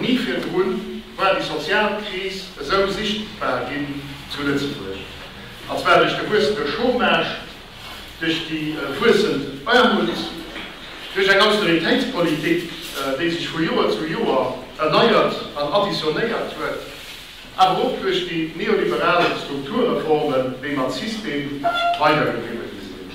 Ni virdrun war déi sozial Kris esou sichtbar ginn zu Lëtzebuerg. A zwar duerch de wuessende Chômage, duerch déi wuessend Aarmut, duerch eng Austeritéitspolitik, déi sech vu Joer zu Joer erneiert an additionéiert huet, awer och duerch déi neoliberal Strukturreformen, déi mat System weidergedriwwe gi sinn.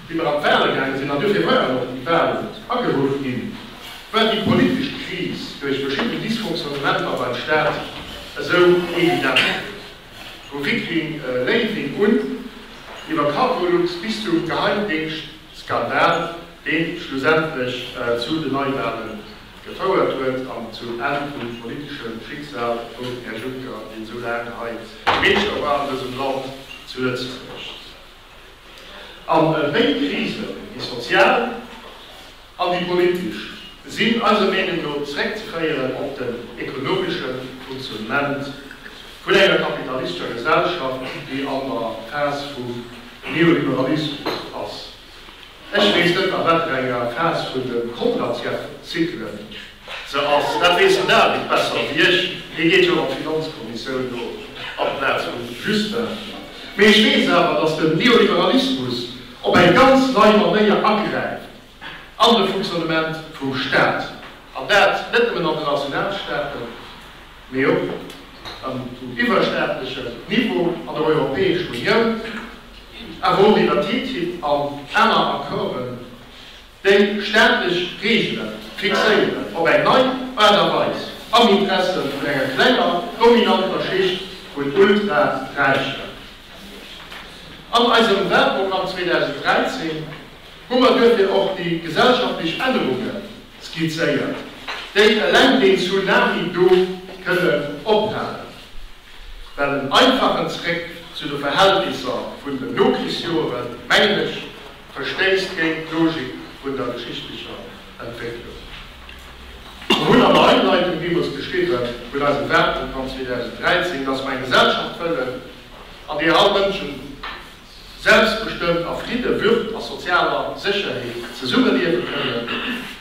Wéi mer an d'Wale gaange sinn, an dofir waren och déi Walen ageruff ginn, war déi politesch Kris duerch verschidden Dysfonctionnementer beim Staat esou evident, vu Viking Léiwing un iwwer Cargolux bis zum Geheimdéngschtskandal, dee schlussendlech zu den Neiwale gefouert huet an zum Enn vum politesche Schicksal vum Här Juncker, deen esou laang hei Meeschter war an dësem Land, zu Lëtzebuerg. An béid Krisen, déi sozial an déi politesch, sinn eiser Meenung no zeréckzeféieren op den ekonomesche Funktionnement vun enger kapitalistescher Gesellschaft, déi an der Phas vum Neoliberalismus ass. Ech weess net a wat fir enger Phas vun de Kontracyklen se ass. Dat weess den David besser wéi ech, hie geet jo an d'Finanzkommissioun do amplaz vum Justin. Mee ech weess awer, datt den Neoliberalismus op eng ganz nei Manéier agräift an de Fonctionnement vum Staat, an dat net nëmmen an de Nationalstaaten, mee och um iwwerstaatlechen Niveau an der Europäescher Unioun, awer och iwwer TTIP an aner Accorden, déi staatlech Reegele fixéieren op eng nei Aart a Weis am Interesse vun enger klenger dominanter Schicht vun Ultra-Räichen. An eisem Wahlprogramm 2013 hu mer duerfir och déi gesellschaftlech Ännerungen, skizzéiert, déi eleng deen Tsunami do kënnen ophalen, well en einfachen Zréck zu de Verhältnisser vun den Nokrichsjoere, mengen ech, verstéisst géint d'Logik vun der geschichtlecher Entwécklung. Mer hunn an der Einleitung deemools geschriwwen, vun eisem Wahlprogramm 2013, dass mer eng Gesellschaft wëllen, an deeër all Mënschen selbstbestëmmt a Fridde, Würd a sozialer Sécherheet zesummeliewe kënnen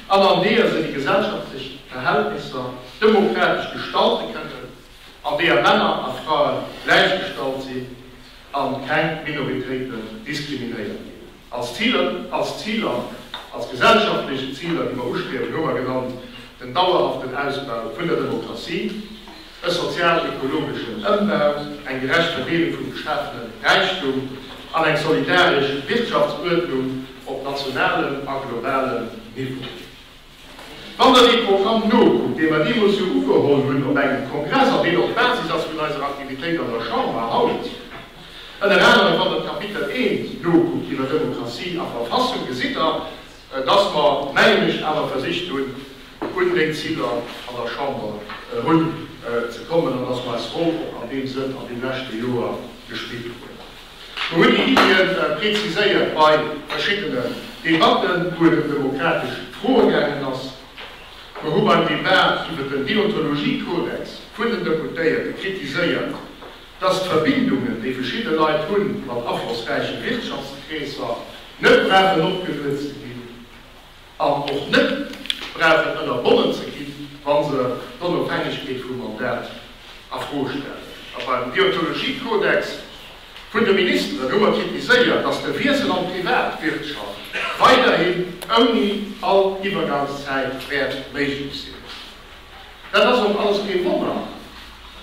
an an deeër se déi gesellschaftlech Verhältnisser demokratesch gestalte kënnen, an deeër Männer a Frae gläichgestallt sinn a keng Minoritéiten diskriminéiert ginn. Als Ziler, als Ziler, als gesellschaftlech Ziler, déi mer ustriewen, hu mer genannt, den dauerhaften Ausbau vun der Demokratie, e sozial-ekologeschen Ëmbau, eng gerecht Verdeelung vum geschafene Räichtum an eng solidaresch Wirtschaftsuerdnung op nationalem a globalem Niveau. Wann Der dee Programm nokuckt, dee mer deemools jo ugeholl hunn op engem Kongress an deen och d'Basis ass vun eiser Aktivitéit an der Chamber haut, ënner anerem wann Der d'Kapitel I nokuckt iwwer Demokratie a Verfassung, gesitt Der, dass mer, mengen ech, awer versicht hunn, un déi Ziler an der Chamber erun ze kommen an dass mer eis Rôle och an deem Sënn an deem leschte Joer gespillt hunn. Mer hunn déi Iddien preziséiert bei verschiddenen Debatten, wou et ëm demokratesch Froe gaangen ass. Mer hu beim Débat iwwert den Deontologiekodex vun den Deputéierte kritiséiert, dass d'Verbindungen, déi verschidde Leit hu mat aflossräiche Wirtschaftskreesser, net brauchen opgeluet ze ginn an och net brauchen ënnerbonnen ze gi wa se d'Onofhängegkeet vum Mandat a Fro stellen. A beim Deontologiekodex vun de Ministeren hu mer kritiséiert, dass de Wiessel an d'Privatwirtschaft weiderhin ouni all Iwwergangszäit wäert méiglech sinn. Dat ass och alles kee Wonner,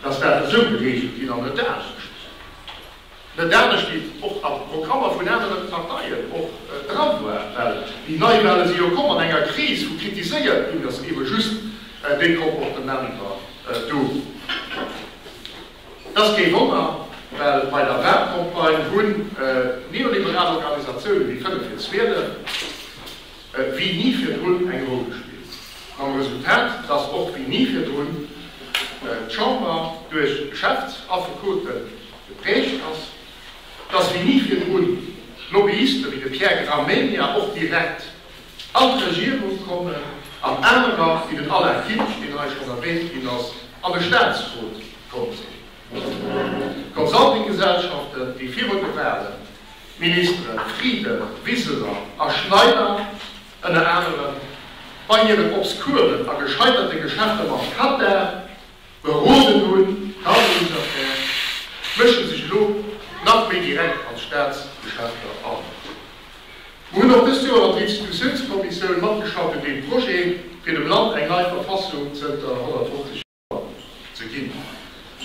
datt dat esou gereegelt ginn an net anescht. Net anescht wéi et och a Programmer vun anere Parteien och dran war, well déi Neiwale si jo komm an enger Kris, wou kritiséiert ginn ass iwwe just déi Comportementer do. Dat ass kee Wonner, well bei der Walcampagne hunn neoliberal Organisatioune wéi 5 vir 12, wéi ni virdrun eng Roll gespillt, mam Resultat, dass och wéi ni virdrun d'Chamber duerch Geschäftsaffekote geprägt ass, dass wéi ni virdrun Lobbyiste wéi de Pierre Gramegna och direkt an d'Regierung kommen an anerer wéi den Alain Finsch, deen hei schonn erwähnt ginn ass, an de Statsrot komm sinn. Consultinggesellschaften, déi virun de Wahlen D'Ministere Frieden, Wiseler a Schneider ënner anerem bei hiren obskuren a gescheiterte Geschäfte mam Katar beroden hunn, d'Armeensaffär, mësche sech elo nach méi direkt an d'Staatsgeschäfter an. Mir hunn och dëst Joer an der Institutiounskommissioun matgeschafft un deem Projet, fir dem Land eng nei Verfassung zënter 150. ze ginn.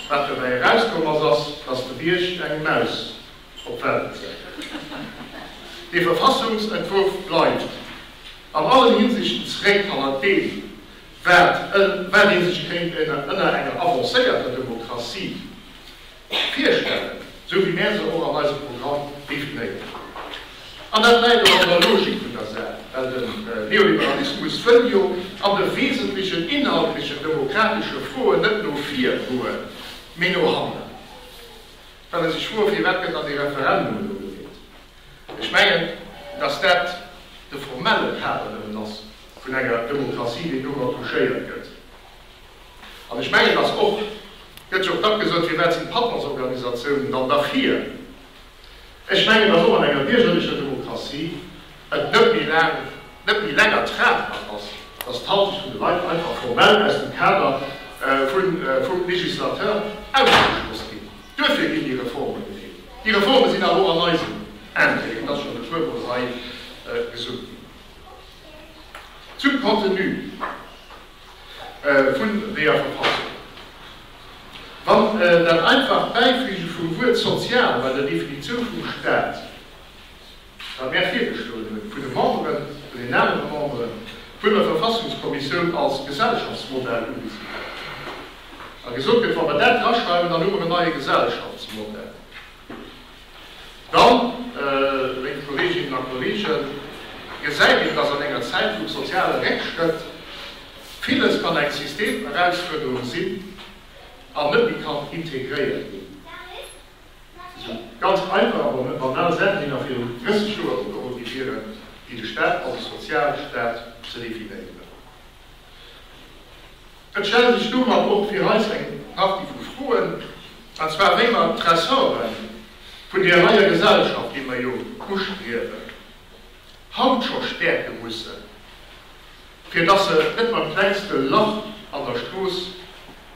Wat dobäi erauskomm ass, ass, dass de Bierg eng Maus op d'Welt gezéien huet. Dee Verfassungsentwurf bleift an allen Hinsichten zréck hannert deem, wat ee sech kéint ënner enger avancéierter Demokratie Virstellen, esou wéi mär se och an eisem Programm definéieren. An dat läit och an der Logik vun der Saach, well de Neoliberalismus wëll jo an de wesentlechen inhaltlechen demokratesche Froen net no vir goen, mee no hanner. Well e sech froe, Firwat gëtt dann dee Referendum elo gewielt? Ech mengen, datt dat de formelle Kader nëmmen ass vun enger Demokratie, deen domat touchéiert gëtt. An ech mengen, dass och, et gëtt jo och dach gesot, firwat sinn d'Patronsorganisatiounen dann dach hir? Ech mengen, dass och an enger biergerlecher Demokratie et net méi laang, net méi länger tragbar ass, dass d'Haltung vun de Leit einfach formell aus dem Kader vum Législateur ausgeschloss ginn. Duerfir ginn déi Reforme gefiert. Déi Reforme sinn awer och an eisen Intérêt, et ass schonn e puermol hei gesot ginn. Zum Contenu. vun deeër Verfassung. Wann dat einfacht Bäifüge vum Wuert sozial bei der Definitioun vum Staat, wat mär virgeschloen hunn, vun de Memberen, vun den anere Membere vun der Verfassungskommissioun als Gesellschaftsmodell ugesi gëtt a gesot gëtt, wa mer dat draschreiwen, dann hu mer en neie Gesellschaftsmodell. Dann, léif Kolleeginnen a Kolleegen, gesäit een, dass an enger Zäit vum soziale Réckschrëtt villes kann eng Systemerausfuerderung sinn an net méi kann integréiert ginn. Esou ganz einfach, awer net banal Saachen, déi nach virun 30 Joer ugeholl gi wieren, wéi de Staat als Sozialstaat ze definéieren. Et stelle sech domat och fir eis eng Partie vu Froen, an zwar wéi mer d'Ressorte vun där neier Gesellschaft, déi mer jo ustriewen, haut scho stäerke mussen, fir dass se net beim klengste Lach an der Strooss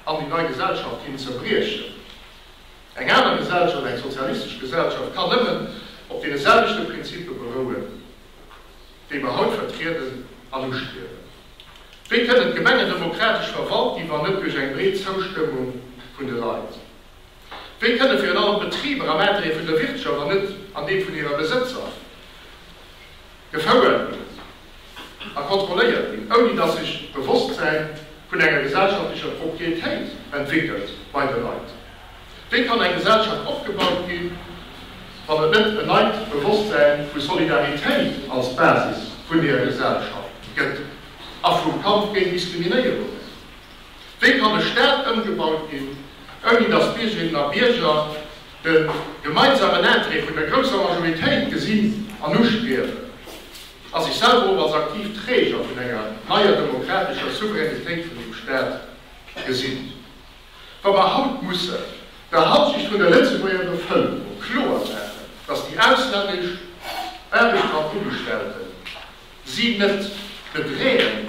an déi nei Gesellschaft hin zerbriechen. Eng aner Gesellschaft, eng sozialistesch Gesellschaft, kann nëmmen op deene selwechte Prinzippe berouen, déi mer haut vertrieden an ustriewen. Wéi kënnen d'Gemenge demokratesch verwalt ginn, wann net duerch eng breet Zoustëmmung vun de Leit? Wéi kënne virun allem d'Betriber am Intérêt vun der Wirtschaft an net an deem vun hire Besëtzer gefouert a kontrolléiert ginn, ouni datt sech d'Bewosstsäin vun enger gesellschaftlecher Propriétéit entwéckelt bei de Leit? Wéi kann eng Gesellschaft opgebaut ginn, wann et net en neit Bewosstsäin vu Solidaritéit als Basis vun deeër Gesellschaft gëtt a vum Kampf géint Diskriminéierung? Wéi kann e Staat ëmgebaut ginn, ouni datt d'Biergerinnen a Bierger de gemeinsamen Intérêt vun der grousser Majoritéit gesinn an uspiewen a sech selwer och als aktiv Träger vun enger neier demokratescher Souveränitéit vun dem Staat gesinn? Wa mer haut mussen der Halsicht vun de Lëtzebuerger Bevëlkerung kloer maachen, dass déi auslännesch Aarbechtskraftugestellten si net bedreeën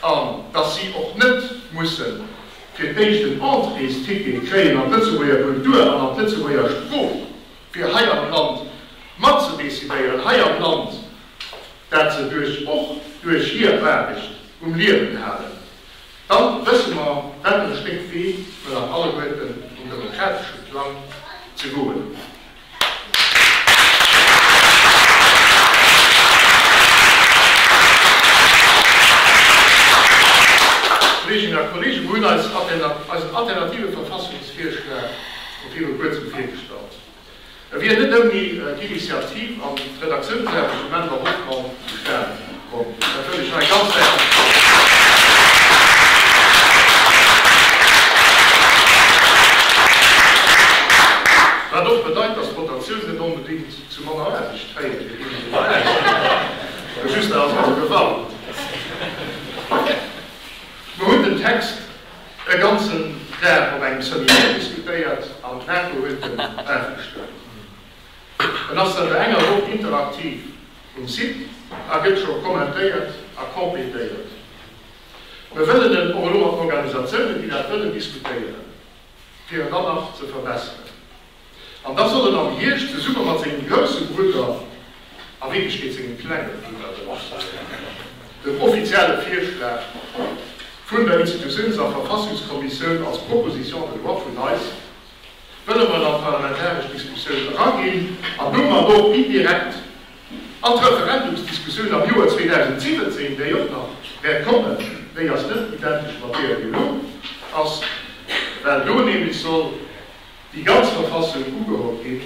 an dass si och net mussen fir d'éischt en Entréesticket kréien an d'Lëtzebuerger Kultur an an d'Lëtzebuerger Sprooch, fir hei am Land matzedecidéieren, hei am Land, dat se duerch och duerch hir Aarbecht um Liewen halen, Dann wësse mer wat en Stéck Wee mer nach alleguerten um demokratesche Plang ze goen hunn. Kolleeginnen a Kolleegen, mer hunn eis eisen alternative Verfassungsvirschlag viru kuerzem virgestallt. E wier net ouni d'Initiativ an d'Redaktiounsaarbecht vum Enver Hoffmann zustane komm. Dat wëll ech hei ganz häerzlech betongen. Wat och bedeit, dass d'Rotatioun net onbedéngt zu manner Aarbecht féiert, fir deenen, déi dobäi sinn, just awer gefall. Mer hunn den Text. E ganzen Dag op engem Seminaire diskutéiert an d'Raco huet en agestuermt. En ass zanter enger Woch interaktiv um Site a gëtt scho kommentéiert a complétéiert. Mir wëllen en och elo mat Organisatiounen, déi dat wëllen, diskutéieren, fir en dann nach ze verbesseren. An da soll en am Hierscht zesumme mat sengem grousse Brudder, a Wierklechkeet sengem klenge Brudder, dem Marcel, den offizielle Virschlag vun der Institutiouns a Verfassungskommissioun als Proposition de loi vun eis wëlle mat an d'parlamentaresch Diskussioun eraginn an domat och indirekt an d'Referendumsdiskussioun am Joer 2017, déi och nach wäert kommen, déi ass net identesch mat deeër, déi elo ass, well do nämlech soll. Déi ganz Verfassung ugeholl ginn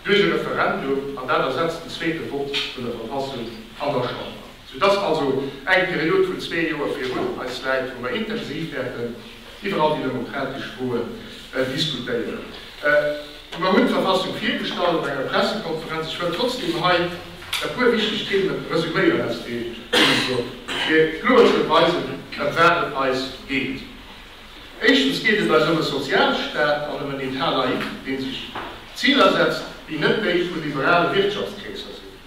duerch e Referendum, an dat ersetzt den zweete Vott vun der Verfassung an der Chamber. Sou dass also eng Period vun zwee Joer virun eis läit, wou mer intensiv wäerten iwwer all déi demokratesch Froen diskutéieren. Mer hunn d'Verfassung virgestallt op enger Pressekonferenz. Ech wëll trotzdeem hei e puer wichteg Themen resuméieren, aus deem Grund, fir kloer ze weisen, ëm wat et eis geet. Éischtens geet et eis ëm e Sozialstaat an ëm en État laïque, dee sech Ziler setzt, déi net déi vu liberale Wirtschaftskreesser sinn,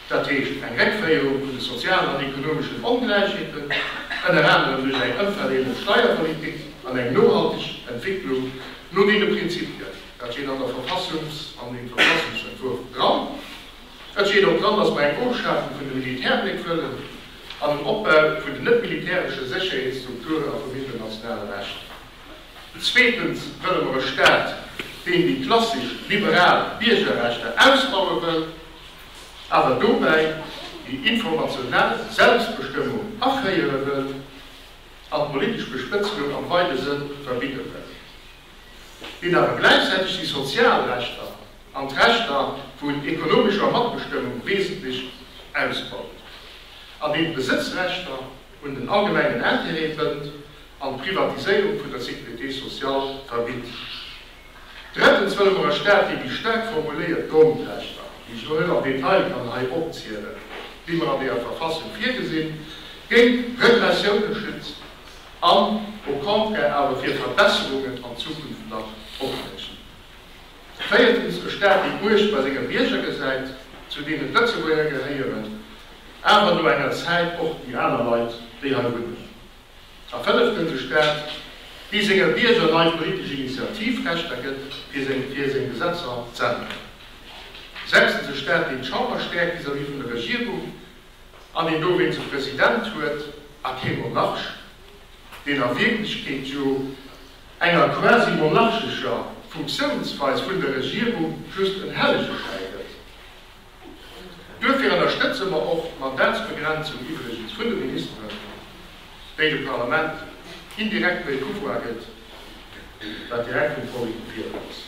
dat heescht eng Réckféierung vun de sozialen an ekonomeschen Ongläichheeten, ënner anerem duerch eng ëmverdeelend Steierpolitik, an eng nohalteg Entwécklung no deene Prinzipien, dat steet an der Verfassungs an dem Verfassungsentwurf dran. Dat seet och d'Land, datt mer eng Ofschafung vun de Militärbléck wëllen an en Opbau vun den net-militäresche Sécherheetsstrukturen a vum internationale Recht. Zweetens wëlle mer e Staat, deen déi klassesch liberal Biergerrechter ausbaue wëll, awer dobäi déi informational Selbstbestëmmung aféiere wëll an d'politesch Bespëtzelung am weide Sënn verbidde wëll. wéi et awer gläichzäiteg déi sozial Rechter an d'Rechter vun ekonomescher Matbestëmmung wesentlech ausbaut, an deen d'Besëtzrechter un den allgemengen Intérêt bënnt an d'Privatiséierung vun der Sécurité sociale verbitt. Drëttens wëlle mer e Staat, dee déi staark formuléiert Grondrechter, déi ech elo net am Detail kann hei opzielen, déi mer an der Verfassung virgesinn, géint Repressioune schützt. an au contraire awer fir Verbesserungen an Zukunft nach opbréchen. Véiertens, e Staat, dee d'Muecht bei senge Bierger gesäit, zu deenen d'Lëtzebuerger gehéieren, awer no enger Zäit och déi aner Leit, déi hei wunnen. A fënneftens, e Staat, dee senge Bierger nei politesch Initiativrechter gëtt, fir seng Gesetzer z'änneren. Sechstens, e Staat, deen d'Chamber stäerkt vis-à-vis vun der Regierung, an een dowéinst e President huet a kee Monarch, deen a Wierklechkeet jo enger quasi monarchescher Funktiounsweis vun der Regierung just en Hellegeschäi gëtt. Duerfir ënnerstëtze mer och d'Mandatsbegrenzung iwwregens vun de Ministeren, déi dem Parlament indirekt méi Pouvoir gëtt, wat direkt vum Vollek gewielt ass.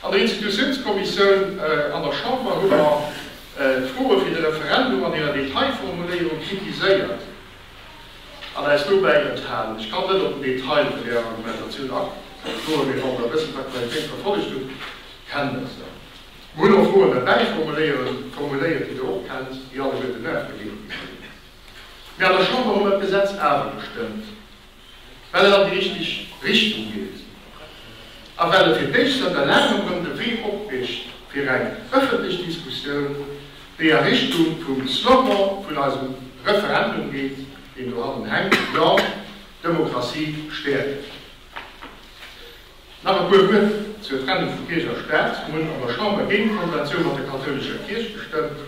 An der Institutiounskommissioun an der Chamber hu mer d'Froe fir de Referendum an hirer Detailformuléierung kritiséiert an äis dobäi enthalen. Ech kann net op den Detail vun där Argumentatioun agoen, mee wann Der e bëssen d'Aktualitéit verfollegt hutt, kennt Der se. Mer hunn och Froen derbäi formuléiert, déi Der och kennt, déi alleguerten nervegéigend sinn. Mee an der Chamber hu mer d'Gesetz awer gestëmmt. well et an déi richteg Richtung geet a well et fir d'éischt zanter laangem erëm de Wee opriicht fir eng ëffentlech Diskussioun, déi a Richtung vum Slogan vun eisem Referendum geet, deen do hannen hänkt, Ja, Demokratie stäerken. Nach e puer Wuert zur Trennung vu Kierch a Staat. Mir hunn an der Chamber géint d'Konventioun mat der kathoulescher Kierch gestëmmt.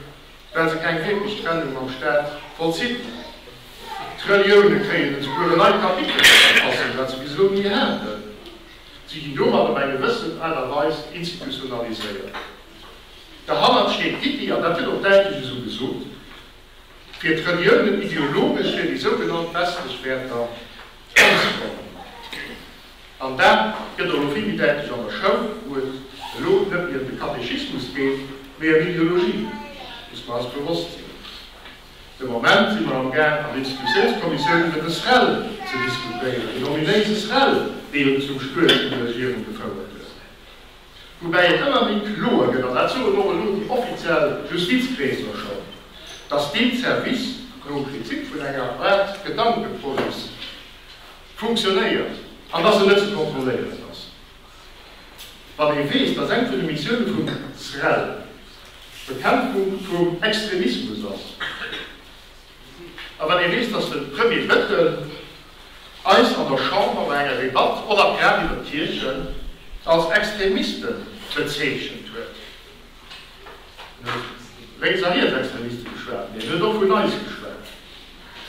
well se keng wierklech Trennung mam Staat vollzitt hunn. D'Relioune kréien esouguer en neit Kapitel ze verfassen, wat se bis elo ni haten. Si ginn domat op eng gewëssen Aart a Weis institutionaliséiert. Derhannert steet d'Iddi, an dat gëtt och däitlech esou gesot, fir d'Reliounen ideologesch fir déi sougenannt westlech Wäerter anzefroen. An dat gëtt och elo vill méi däitlech an der Schoul, wou et elo net méi ëm de Katechismus geet, mee ëm Ideologie. Muss mer eis bewosst sinn. De Moment si mer amgaang an Institutiounskommissioun iwwer de SREL ze diskutéieren, den ominéise SREL, dee jo zum Stuerz vun der Regierung gefouert huet. Woubäi et ëmmer méi kloer gëtt, an dat soen och elo déi offiziell Justizkreesler schonn, datt deen Service no Prinzip vun enger Art Gedankepolice funktionéiert an dass en net ze kontrolléieren ass. Wann ee weess, dass eng vun de Missioune vum SREL d'Bekämpfung vum Extremismus ass a wann ee weess, dass de Premier Bettel eis an der Chamber bei enger Debatt och a grad iwwer d'Kierchen als Extremiste bezeechent huet, En huet vu Lénks a Rietsextremiste geschwat, mee en huet och vun eis geschwat.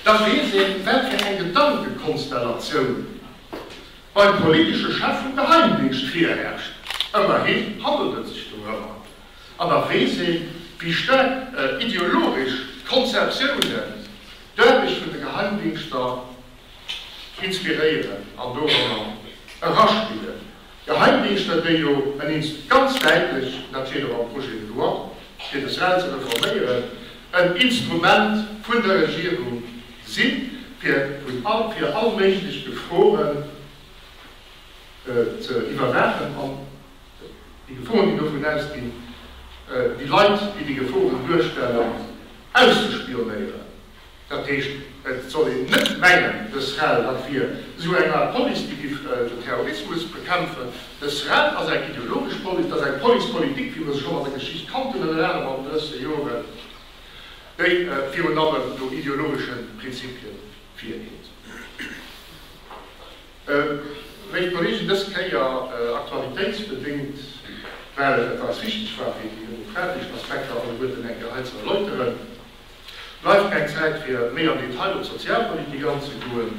Da weess een, wat fir eng Gedankekonstellatioun beim politesche Chef vum Geheimdingscht virherrscht. Ëmmerhi handelt et sech dorëmmer. An da weess een, wéi staark ideologesch Konzeptiounen d'Aarbecht vun de Geheimdingschter inspiréieren an dorëmmer eraspillen. Geheimdienster, déi jo eniims ganz däitlech, an dat seet och am Projet de loi, fir de sral ze reforméieren, en Instrument vun der Regierung si fir all méiglech Geforen ze iwwerwaachen an déi Geforen, déi dovun ausginn, déi Leit, déi déi Geforen duerstellen, auszespionéieren. Dat heescht, et soll een net mengen, de SREL, dat wier esou eng Aart Police, déi giff den Terrorismus bekämpfen. De SREL ass eng ideologesch Police, et ass eng Police politique, wéi mer se schonn an der Geschicht kannten, ënnert anerem an den lëschte Joren, déi virun allem no ideologesche Prinzipien virgeet. Léif Kolleegen, dës Kéier aktualitéitsbedéngt, well et eis wichteg war, fir déi demokratesch Aspekter alleguerten eng Kéier hei ze erläuteren, bleift keng Zäit fir méi am Detail op d'Sozialpolitik anzegoen,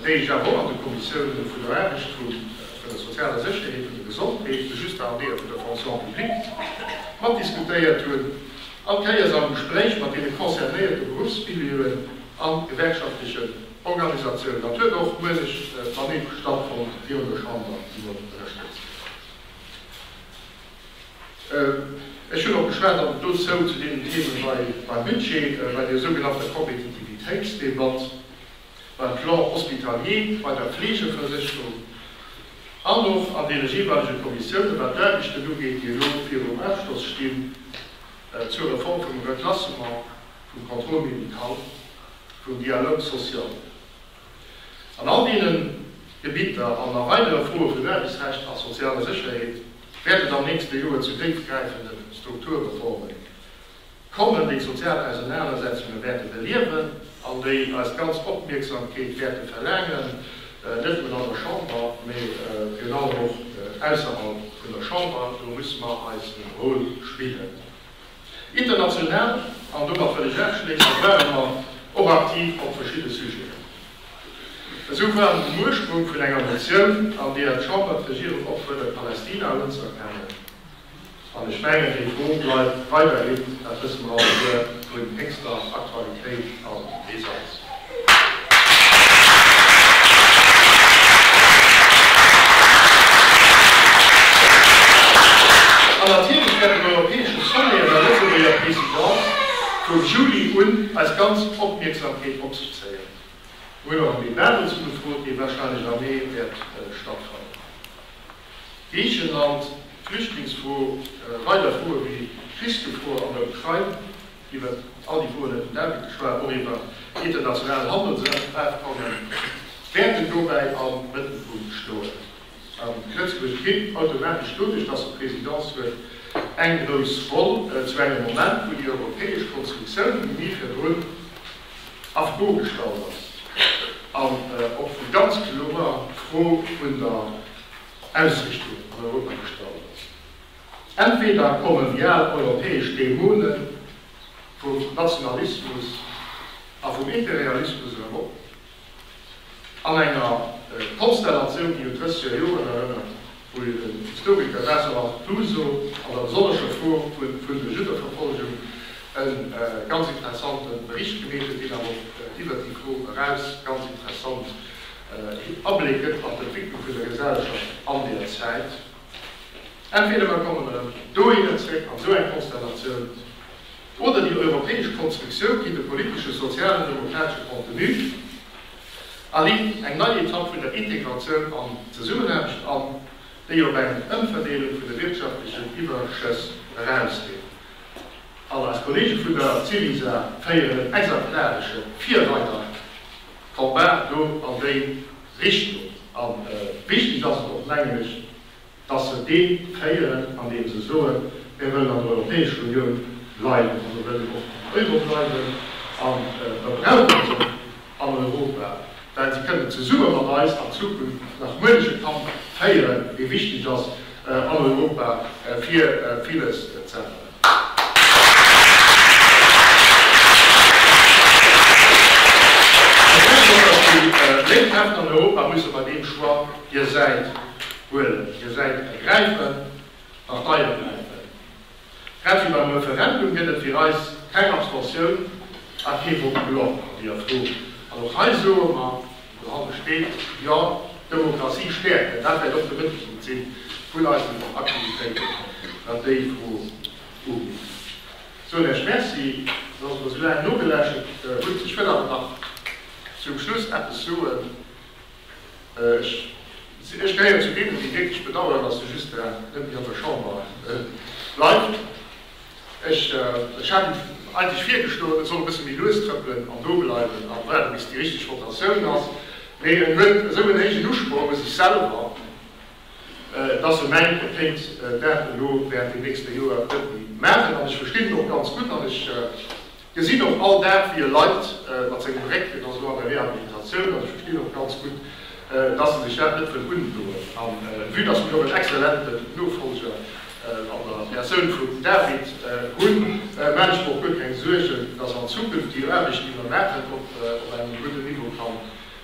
déi ech awer och an de Konditiounen vun der Aarbecht, vun der sozialer Sécherheet, vun der Gesondheet, vu just der Areeë vun der Fonction publique mat diskutéiert hunn, all Kéiers am Gespréich mat deene concernéierte Beruffsmilieu'en a gewerkschaftlechen Organisatiounen. Dat huet och muenech Maníf stattfonnt hir un der Chamber iwwer ënnerstëtzt. Ech hunn och geschwat, an dozou zu deenen Themen beim Budget, bei der sougenannter Kompetitivitéitsdebatt, beim Plan hospitalier, bei der Fleegeversécherung an och an deene jeeweilege Kommissiounen, wat d'Aarbechten ugeet, déi elo virum Ofschloss stinn, zur Reform vum Reklassement, vum Contrôle médical, vum Dialogue social. An all deene Gebitter an a weidere Froe vun Aarbechtsrecht a sozialer Sécherheet wäert et am nächste Joer zu déifgräifende Strukturreforme kommen, déi d'sozial Ausenanersetzunge wäerte beliewen an déi eis ganz Opmierksamkeet wäerte verlaangen, net nëmmen an der Chamber, mä virun allem och ausserhalb vun der Chamber. Do musse mer eisen Rôle spillen. International, an domat wëll ech aschléissen, ware mer och aktiv op verschidde Sujeten. Esou waren den Ursprung vun enger Motioun, an deeër d'Chamber d'Regierung opfuerdert, Palästina unzuerkennen. An ech mengen, déi Fro bleift weiderhin, dat wësse mer alleguer, vun héchster Aktualitéit an Brisanz. An natierlech während dem europäesche Sommet an der Lëtzebuerger Présidence vu Juli un eis ganz Opmierksamkeet op sech zéien. Mir hunn och en Débat dozou gefrot, dee warscheinlech am Mee wäert stattfannen. Griichenland, d'Flüchtlingsfro, weider Froe wéi d'Krichsgefor an der Ukrain. Iwwer all déi Froen huet den David geschwat, och iwwer international Handelsrecht, d'Baachtkommen wäerten dobäi am Mëttelpunkt stoen. A Lëtzebuerg kritt automatesch doduerch, datt et d'Presidence huet, eng grouss Roll, zu engem Moment, wou déi europäesch Konstruktioun, déi ni virdrun a Fro gestallt ass, an och vu ganz kloer Fro vun der Ausrichtung an Europa gestallt ass. Entweder kommen déi al europäesch Dämonen vum Nationalismus a vum Imperialismus erëm op, an enger Konstellatioun, déi un d'Drësseger Joren erënnert, wou jo den Historiker Jean-Charles Clouzot an der besonnescher Fro vun der Juddeverfolgung e ganz interessante Bericht gemeet huet, deen awer och iwwer d'Mikro eraus ganz interessant Abléck gëtt an d'Entwécklung vun der Gesellschaft an där Zäit. Entweder mer kommen erëm dohinner zréck an esou eng Konstellatioun, oder déi europäesch Konstruktioun kritt e politesche, sozialen, demokratesche Contenu a leet eng nei Etapp vun der Integratioun an Zesummenaarbecht an, déi op eng Ëmverdeelung vun de wirtschaftlechen Iwwerschëss erausgeet. An eis Kollege vun der Syriza féieren en exemplaresche, virreider Combat do an déi Richtung. A wichteg ass et och, mengen ech, datt se dee féieren, andeem se soen, Mir wëllen an der Europäescher Unioun bleiwen a mir wëllen och am Euro bleiwen a mir brauche se an Europa, well se kënnen zesumme mat eis an Zukunft nach muenche Kampf féieren, dee wichteg ass an Europa, fir villes z'änneren. Ech mengen och, datt déi lénk Hären an Europa musse bei deem Choix hir Säit huelen, hir Säit ergräifen, Partei ergräifen. Grad wéi beim Referendum gëtt et fir eis keng Abstention a kee Vote blanc an deeër Fro. An och hei soe mer, Dra steet, Jo, d'Demokratie stäerken, dat wäert och de Mëttelpunkt si vun eisen Aktivitéiten. Wat déi Fro ugeet, soen ech Merci, datt Der mer esou laang nogeläschent hutt. Ech wëll awer nach zum Schluss eppes soen. Ech gehéieren zu deenen, déi wierklech bedauern, datt de Justin net méi an der Chamber bleift. Ech hat em eigentlech virgeschloen, et soll e bësse méi lues trëppelen an do bleiwen a waarde bis déi richteg Rotatioun ass. Mee en huet esou en héijen Usproch u sech selwer, dass e mengt, e kéint dat elo während dem nächste Joer net méi maachen. An ech verstinn en och ganz gutt. Gesinn och all Dag wéi e leit mat sengem Réck, hien ass elo an der Rehabilitatioun, also ech verstinn och ganz gutt, dass en sech dat net wëll undoen. A vue dass mir och en exzellenten Nofolger an der Persoun vum David hunn, maan ech mer och guer keng Suergen, dass an Zukunft déi Aarbecht déi mer maachen op engem gudden Niveau kann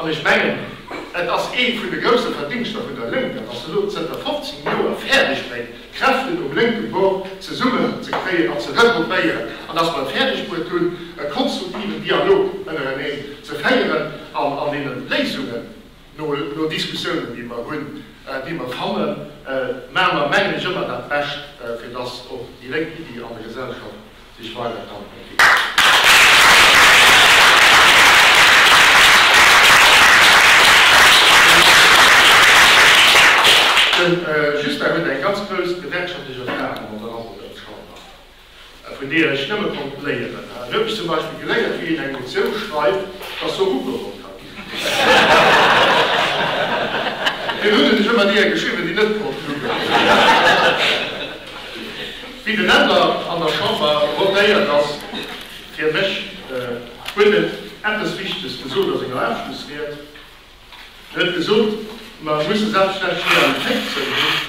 An ech mengen, et ass ee vun de grousse Verdingschter vun der Lénk, datt se elo zënter 15 Joer fäerdeg bréngt, d'Kräften um lénke Bord zesummen ze kréien an ze regroupéieren, an datt mer et fäerdeg bruet hunn, e konstruktiven Dialog ënnereneen ze féieren an an deene Léisungen, no Diskussiounen, déi mer hunn, déi mer fannen, maache mer, mengen ech, ëmmer dat Bescht, fir datt och déi lénk Iddi an der Gesellschaft sech weider kann entwéckelen. Den Justin huet eng ganz grouss gewerkschaftlech Erfarung an der Lafferter Chamber, vun deeër ech nëmme konnt léieren. Him hu ech zum Beispill geléiert, wéi een eng Motioun schreift, dass se ugeholl kann ginn. Fir hunn ech ëmmer deeër geschriwwen, déi net pro Fluch waren. Wéi den Änder an der Chamber rotéiert ass, fir mech huet et eppes Wichtiges gesot a senger Abschlussried. En huet gesot, mer musse selbstverständlech méi an d'Téift zougoen.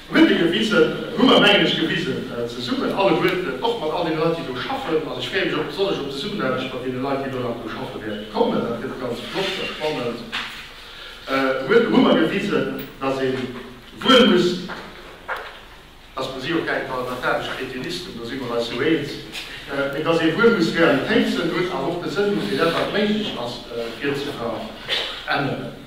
Huet e gewisen, hu mer mengen ech gewisen, zesummen alleguerten, och mat all deene Leit déi do schaffen. An ech freeë mech och besonnesch op d'Zesummenaarbecht mat deene Leit déi elo nach do schaffe wäerte kommen. Dat gëtt ganz flott a spannend. Huet hu mer gewisen, datt ee wuel muss, datt mer si och gäre parlamentaresch Kretinisten, do si mer eis jo eens, mee datt ee wuel muss Realitéiten hunn, awer och de Sënn hunn fir dat wat méiglech ass, fir ze veränneren.